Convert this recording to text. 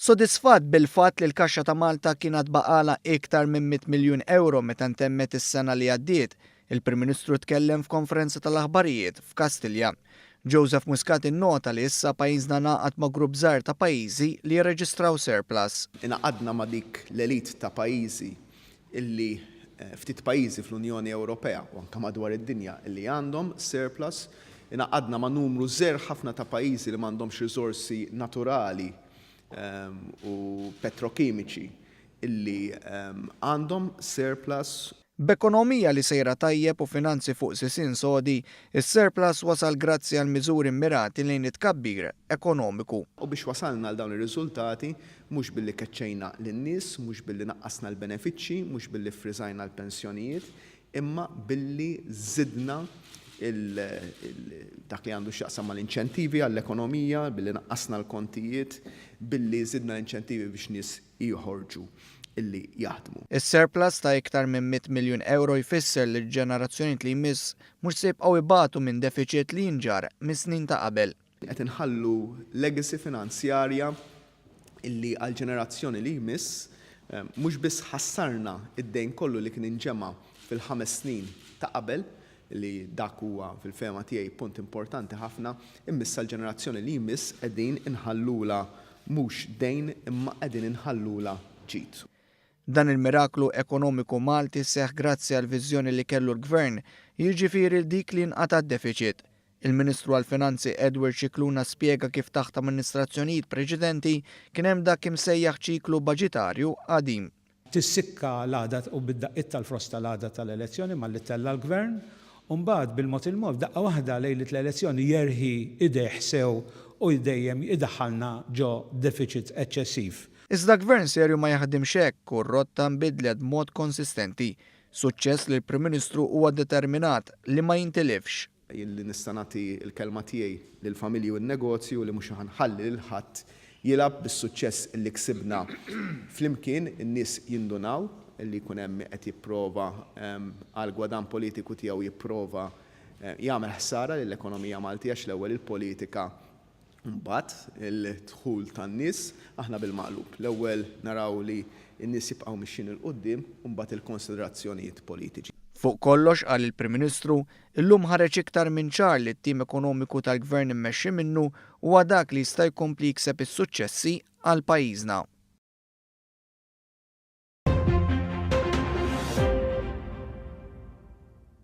Sodisfatt bil-fatt li l-kaxxa ta' Malta kien għad baqgħalha iktar minn mitt miljun ewro meta ntemmet is-sena li għaddiet, il-Prim Ministru tkellem f'konferenza tal-aħbarijiet f'Kastilja. Joseph Muscat innota li issa pajjiżna ngħaqad ma' grupp żgħir ta' pajjiżi li jirreġistraw surplus. Ingħaqadna ma' dik l-elite ta' pajjiżi illi ftit pajjiżi fl-Unjoni Ewropea, u anke madwar id-dinja, illi għandhom surplus, ingħaqadna ma' numru żgħir ħafna ta' pajjiżi li m'għandhomx riżorsi naturali u petrokimiċi illi għandhom surplus. B'ekonomija li sejra tajjeb u finanzi fuq sisien sodi, is-surplus wasal grazzi għal miżuri mmirati lejn it-tkabbir ekonomiku. U biex wasalna għal dawn ir-riżultati, Mhux billi keċċejna lin-nies, mhux billi naqqasna l-benefiċċji, mhux billi ffriżajna l-pensjonijiet, imma billi żidna dak li għandu x'jaqsam mal-inċentivi għall-ekonomija, billi naqqasna l-kontijiet, billi żidna l-inċentivi biex nies joħorġu li jaħdmu. Is-surplus ta' iktar minn mitt miljun ewro jfisser li l-ġenerazzjonijiet li jmiss mhux se jibqgħu jbatu minn defiċit li jinġarr mis-snin ta' qabel. Qed inħallu legacy finanzjarja li għall-ġenerazzjoni li jmiss mhux biss ħassarna d-dejn kollu li kien inġema' fil-ħames snin ta' qabel, li dak huwa fil-fehma tiegħi punt importanti ħafna, imma issa l-ġenerazzjoni li jmiss qegħdin inħallulha mhux dejn imma qegħdin inħallulha ġid. Dan il-miraklu ekonomiku Malti seħħ grazzi għall-viżjoni li kellu l-Gvern, jiġifieri dik li jinqata' d-defiċit. Il-Ministru għall-Finanzi Edward Scicluna spjega kif taħt amministrazzjonijiet preċedenti kien hemm dak imsejjaħ ċiklu baġitarju qadim. Tissikka l-għada u bid-daqqiet tal-frost tal-għada tal-elezzjoni malli ttella' l-Gvern u mbagħad bil-mod il-mod f'daqqa waħda lejliet l-elezzjoni jerħi idejh sew u dejjem idaħħalna ġo defiċit eċċessiv. Iżda Gvern serju ma jaħdimx hekk u r-rotta nbidlet b'mod konsistenti. Suċċess li l-Prim Ministru huwa determinat li ma jintilifx. Jien li nista' nagħti l-kelma tiegħi lill-familji u n-negozju li mhux ħa nħalli lil ħadd jilgħab bis-suċċess li ksibna flimkien, in-nies jindunaw li jkun hemm min qed jipprova għall-gwadann politiku tiegħu jipprova jagħmel ħsara lill-ekonomija Maltija x'l-ewwel il-politika Imbagħad il-dħul tan-nies, aħna bil-maqlub. L-ewwel naraw li n-nies jibqgħu mixjin 'il quddiem u mbagħad il-konsiderazzjonijiet politiċi. Fuq kollox, qal il-Prim Ministru, illum ħareġ iktar minn ċar li t-tim ekonomiku tal-Gvern immexxi minnu huwa dak li jista' jkompli jikseb is-suċċessi għal pajjiżna.